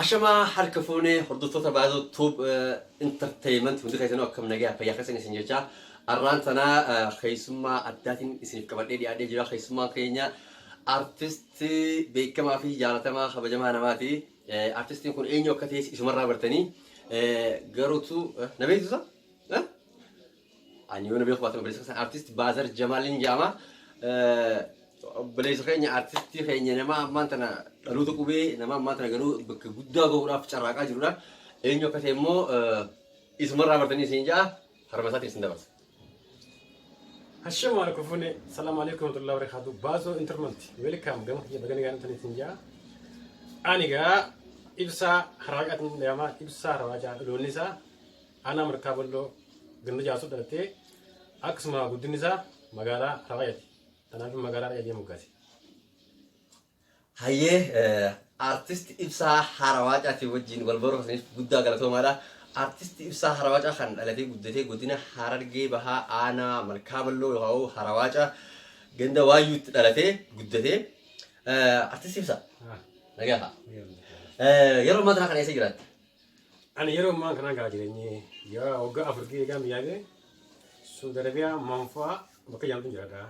Ashamaa harka fuunee hordoftoota Baazoo Tube Entertainment hundi keessanuu akkam nagaa fayyaa keessan isin jechaa arraan tanaa keessummaa addaatiin isiniif qabadhee dhiyaadhee jira keessummaan keenya artistii beekamaa fi jaalatamaa kabajamaa namaati artistiin kun eenyu akka ta'es isumarraa bartanii garuutu na beeksisa Ani yoona beeku baatan obboleessa keessan artist Baazar Jamaaliin jedhama. Obboleessa keenya artistii keenya nama ammaan tana dhaloota qubee nama ammaan tana garuu bakka guddaa gahuudhaaf carraaqaa jirudha. Eenyu akka ta'e immoo isumarraa bartanii isin ja'a harma isaatiin isin dabarsa. Hashama alaikum fune salamu alaikum warahmatullahi wabarakatuh bazo interment welcome gama kiyya bagani gaana tani tinja ani ga ibsa haraqatin dama ibsa rawaja lonisa Aanaa Markaa Bolloo ganda Jaasoo dhalattee akkasuma guddinni isaa magaalaa Rawayati. Kanaaf magaalaa Rawayati jedhamu gaase. Hayyee artist ibsaa Harawaacaati wajjin wal barreessaniif guddaa galatoomaadha. Artist ibsaa Harawaacaa kan dhalatee guddatee godina Harargee Bahaa Aanaa Malkaa Balloo yookaan Harawaacaa ganda Waayyuutti dhalatee guddatee. Artist ibsaa nagaa haa. Yeroo ammaa kana eessa jiraatta? Ani yeroo ammaa kanaa gaa jireenyi yaa waggaa afur gee egaa biyyaa gee Suudi Arabiyaa manfaa bakka jaamtu jiraadha.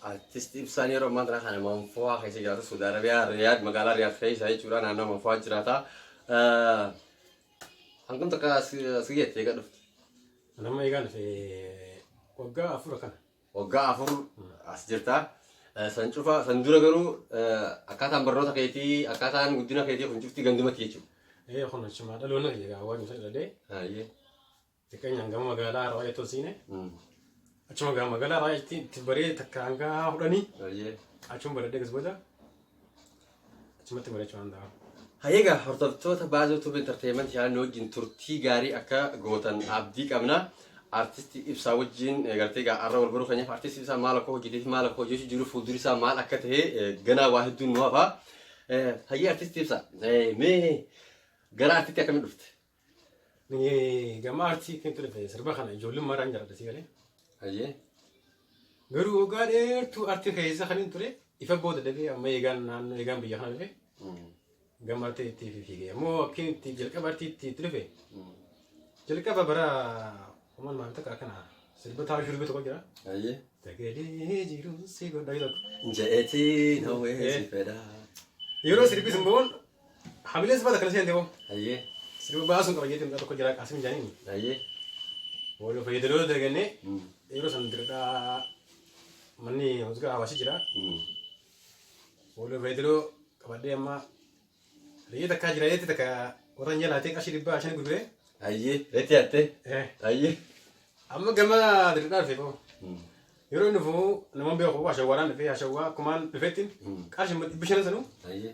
Artist ibsaan yeroo ammaa kana kana manfaa keessa jiraatu Suudi Arabiyaa Riyaad magaalaa Riyaad keessa jechuudha naannoo manfaa jiraata. Hangam takka asii jettee egaa dhufte? Nama eegaa dhufe waggaa afur kana. waggaa afur as jirta. Eh, San cufa san dura garuu eh, akkaataan barnoota keetii akkaataan guddina keetii kun cufti gandumatti jechuudha. Ee kun achumaa dhaloonni kiyya gaa waan isa dhalee Hayyee. xiqqeenyaan gama magaalaa irraa baay'ee tolsiine Mm. achuma gaa magaalaa irraa itti itti baree takka hanga kudhanii Hayyee. achuma baradee gas booda achumatti mari'achuu danda'a. Hayyeegaa hordoftoota Baazoo Tube Entertainment yaadni wajjin turtii gaarii akka gootan abdii qabna. Artisti Ibsaa wajjin eh, gartee egaa arra wal baruu keenyaaf artisti Ibsaa maal akka hojjetee fi maal akka hojjechuu jiru fuulduri isaa maal akka ta'e eh, ganaa waa hedduun nu hafa. Eh, Hayyee artisti Ibsaa eh, mee gara artitti akkamitti dhufte? Gama aartii kan ture sirba kana ijoollummaadhaan jaalladha si galee. Ayyee. Garuu waggaa dheertuu aartii keessa kan hin ture ifa booda dhabee amma eegaan naannoo eegaan biyya kana dhufe gama aartii itti fiigee ammoo akkin itti jalqaba aartii itti itti dhufe jalqaba bara kuma lamaa fi takka akkana sirba taa'uu shurbii tokko jira. Ayyee. Sagalee jiruun si godha jedhu. Je'etii na weessi fedha. Yeroo sirbis immoo Hamileen sifaa takka seente boo. Ayyee. Sirba baasuun qaba jeetiin mucaa tokko jira qaasim jaaniin. Ayyee. Wal fayyadaloota dalagannee yeroo san diradhaa manni hojii hawaasi jira. Wal fayyadaloo qabadhee amma reeyyee takkaa jira reetti takka warran jalaatee qarshii dhibbaa shan gurguree. Ayyee. Reetti hattee. Ayyee. Amma gama diradhaa dhufee boo. Yeroo inni fuu namoonni beeku hashawwaadhaan dhufee hashawwaa kumaan dhufeetti qarshii dhibbi shanan sanuu. Ayyee.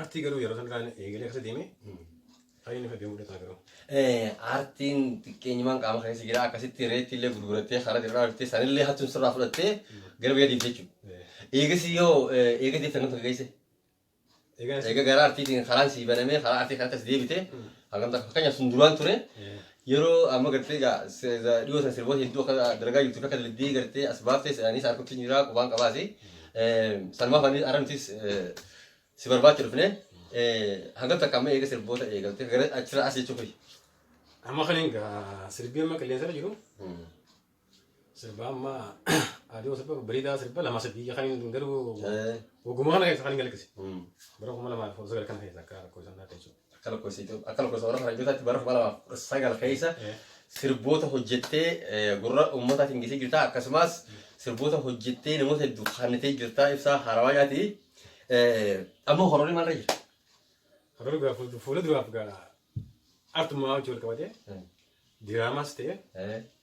Artii garuu yeroo san irraa eegalee akkasa deemee taa'ee inni fadhee mudhataa garuu. Aartiin xiqqeenyumaan qaama keessa jira akkasitti reetti illee gurgurattee karaa irraa argattee sanillee hattuun sirraa fudhattee gara biyya deemte jechuudha. Eegas yoo eega deemte hangam takka geesse? Eega gara artiitiin karaan sii banamee karaa artii kanatti as deebite hangam takka fakkeenyaaf sun duraan ture yeroo amma gartee egaa dhiyoo sana sirboota hedduu akka dalagaa jirtu akka dalagdee gartee as baaftee anis harkutti jira qubaan qabaasi. Sanumaaf anis arra nutis Si barbaacha dhufne hangam takka amma eega sirboota eegalte gara achirraa as jechuu kiyya. Amma kan egaa sirbii amma qilleensa irra jiru sirba amma aduu sirba bariidaa sirba lama sadii kan hin garuu Eh, waguma kana keessa kan hin galakkise. Bara kuma lamaa fi kudha sagal kana keessa akka rakkoo isaan dhaate jechuudha. akka lakkoofsa Itoophiyaa akka lakkoofsa warra faranjootaatti bara 2019 keessa sirboota hojjettee eh, gurra uummataatiin geessee jirta akkasumas sirboota hojjettee namoota hedduu kaannitee jirta ibsaa haarawaa nyaati Eh, amma hororii maalirra jira? Hagaruu gaa fuul- fuula duraaf gaa artumaa hojii wal qabatee diraamaas ta'e Eh,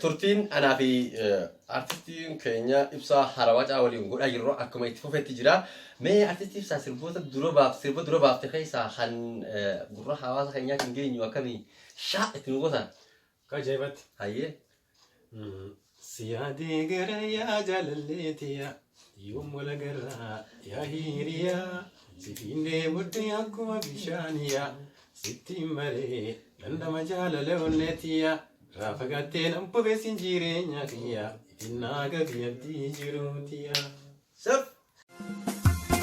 Turtiin anaa fi artistiin keenya ibsaa harawacaa waliin godhaa jirru akkuma itti fufetti jira. Mee artistii ibsaa sirboota dura baaf sirba dura baafte keessaa kan gurra hawaasa keenyaatti hin geenyu akkamii shaa itti nu goota. Akka ajaa'ibatti. Hayyee. Si yaadee gara yaa jaalallee tiyaa. Yoom wal agarraa yaa hiriyaa sitiin deemutti akkuma bishaaniyaa sittiin baree dandama jaalala onneetiyaa irraa fagattee nan bobeessin jireenya kiyyaa innaa gabii abdii jiruutiyaa. Sab!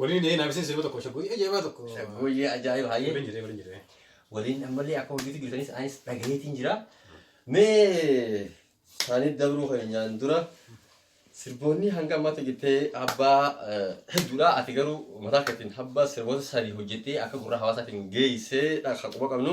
Waliin jedhee naaf isin sirba tokko shaggooyyee ajaa'ibaa tokko. Shaggooyyee ajaa'ibaa hayyee. Waliin jedhee waliin jedhee. Waliin ammallee akka hojiitti jirtanis anis dhagaheetiin jira. Mee isaanii dabruu keenyaan dura sirboonni hanga ammaatti hojjettee abbaa hedduudha. Ati garuu mataa keetiin abbaa sirboota sadii hojjettee akka gurra hawaasaatiin geessee kan quba qabnu.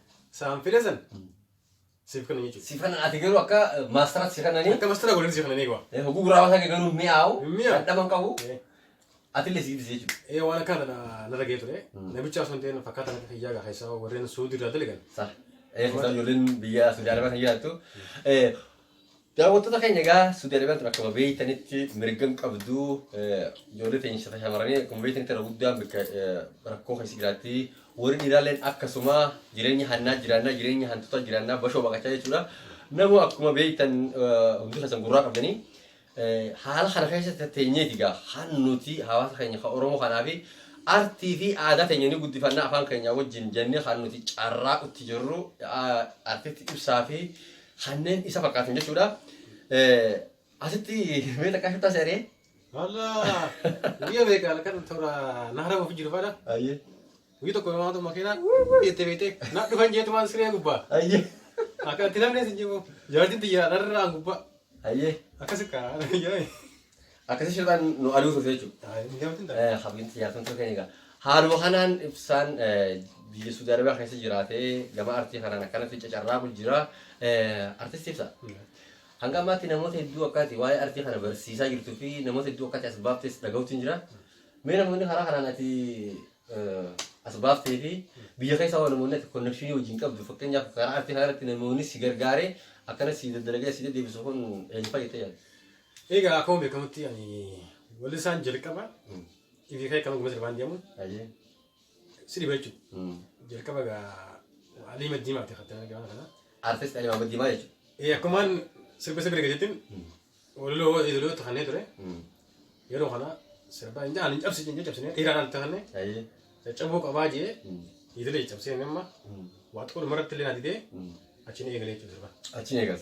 Saan file san siif kana jechuudha. Si kana ati garuu akka maastaraatti si kananii Akka mastara godhanii si kana ni eegaa. eh, hoguu gurraa basaa garuu mi'aawu Mi'aawu. dhadhaman qabu Eh, atillee si giddisi jechuudha. eh, waan akkana tana narra ga'ee ture. Mm. Namicha osoo hin ta'in fakkaataa natti fayyaa gaa keessaa warreen suudii irraa dalagan. Sa. Eh, keessaa ijoolleen biyya Suudi Arabaa kan jiraattu. Eh, Daawwattoota keenya egaa Suudi Arabiyaan tun akkuma beektanitti mirga hin qabdu. Ijoollee teenya shata shamarranii akkuma beektanitti irra guddaan bakka rakkoo keessa jiraatti. Warri dhiiraalleen akkasuma jireenya hannaa jiraannaa jireenya hantuutaa jiraannaa bashoo baqachaa jechuudha. Nama akkuma beektan hundi keessan gurraa qabdanii haala kana keessatti teenyeeti egaa kan nuti hawaasa keenya kan Oromoo kanaa fi artii fi aadaa teenya ni guddifannaa afaan keenyaa wajjin jennee kan nuti carraa utti jirru artiitti ibsaa fi kanneen isa fakkaatan jechuudha. Eh, Asitti mee takkaa shuttaa seeree? Walla guyyaa beekaa kan toora naara ofi jiru fadha. Ayyee. Guyyaa tokko namaa tokko makiinaa jettee beektee na dhufan jeetu waan siree gubbaa. Ayyee. Akka itti namni isin jiru jaartiin tiyyaa dharraan gubbaa. Ayyee. Akkas akka Akkasii shirtaan nu aduu turte jechuudha. Habiinti jaartan turte egaa. Haaluma kanaan ibsaan biyya Suudi Arabiyaa keessa jiraatee gama artii kanaan akkanatti cacarraaqu jira. Artisti ibsa. Hanga ammaatti namoota hedduu akkaati waa'ee artii kana barsiisaa jirtuu fi namoota hedduu akkaati as baaftes dhaga'uutu jira. Mee namoonni karaa kanaan ati as baaftee fi biyya keessa waan namoonni ati konnekshinii wajjin qabdu fakkeenyaaf karaa artii kanarratti namoonni si gargaaree akkana si daddalagaa si deddeebisu kun eenyu fayyadee yaadu? Egaa akkuma beekamutti ani wallisaan jalqaba ifi ka'e kan ogummaa sirbaan deemuun Ayyee. si dhiba jechuudha. Mm. Jalqaba egaa Alii Maddiimaati kan ta'an gaana kana. Artist Alii Maamad Diimaa jechuudha. Eh, Akkumaan sirba sirba eegalettiin waliloo idilee tahannee ture. Mm. Yeroo kana sirba hin jaan hin cabsi hin cabsine dhiiraan al tahanne Ayyee. caccabuu qabaa jee Mm. idilee cabsee amma Mm. waa xiqqoo dhumarratti illee na didee Mm. achiin eegalee jechuudha sirba. Achiin eegas.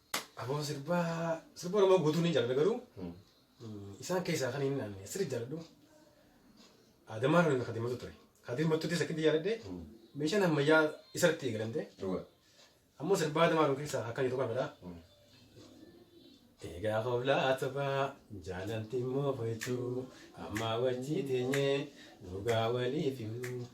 Aboo sirbaa sirba Oromoo guutuu ni jaalladha garuu Mm. mm, isaan keessaa kan inni aanne sirri jaalladhu Adamaa Roonii Kadir Mattuu ture. Kadir Mattuutis akkitti jaalladhe Mm. meeshaan ammayyaa isarratti eegalamte Dhuga. ammoo sirbaa Adamaa Roonii keessaa akkan jedhu kan fedhaa. Mm. Egaa hoolaa taphaa jaalalti immoo fo'achuu ammaa wajjii teenyee dhugaa waliif himnu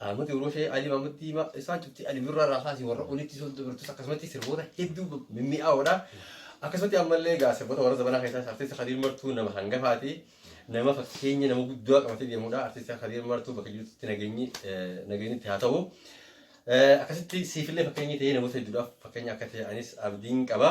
Ahmad Urushee, Ali Mahmud Diimaa isaan cufti Ali Birraa irraa kaasee warra olitti sun dubartus akkasumatti sirboota hedduu mimmi'aawoodha. Akkasumatti ammallee egaa sirboota warra zabanaa keessaas artisti Kadiir Martuu nama hangafaati. Nama fakkeenya nama guddaa qabatee deemudha. Artisti Kadiir Martuu bakka jirutti nageenyi eh, nageenyi itti haa ta'u. Eh, Akkasitti siifillee fakkeenya ta'ee namoota hedduudhaaf fakkeenya akka ta'e anis abdiin qaba.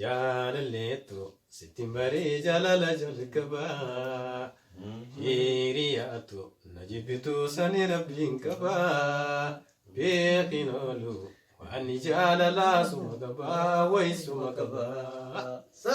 Jaalalleettu sittin baree jaalala jalqaba Hiriyaatu na jibbitu sani rabbiin qaba Beekin oolu waanni jaalalaa suma qaba way suma qaba. Sa.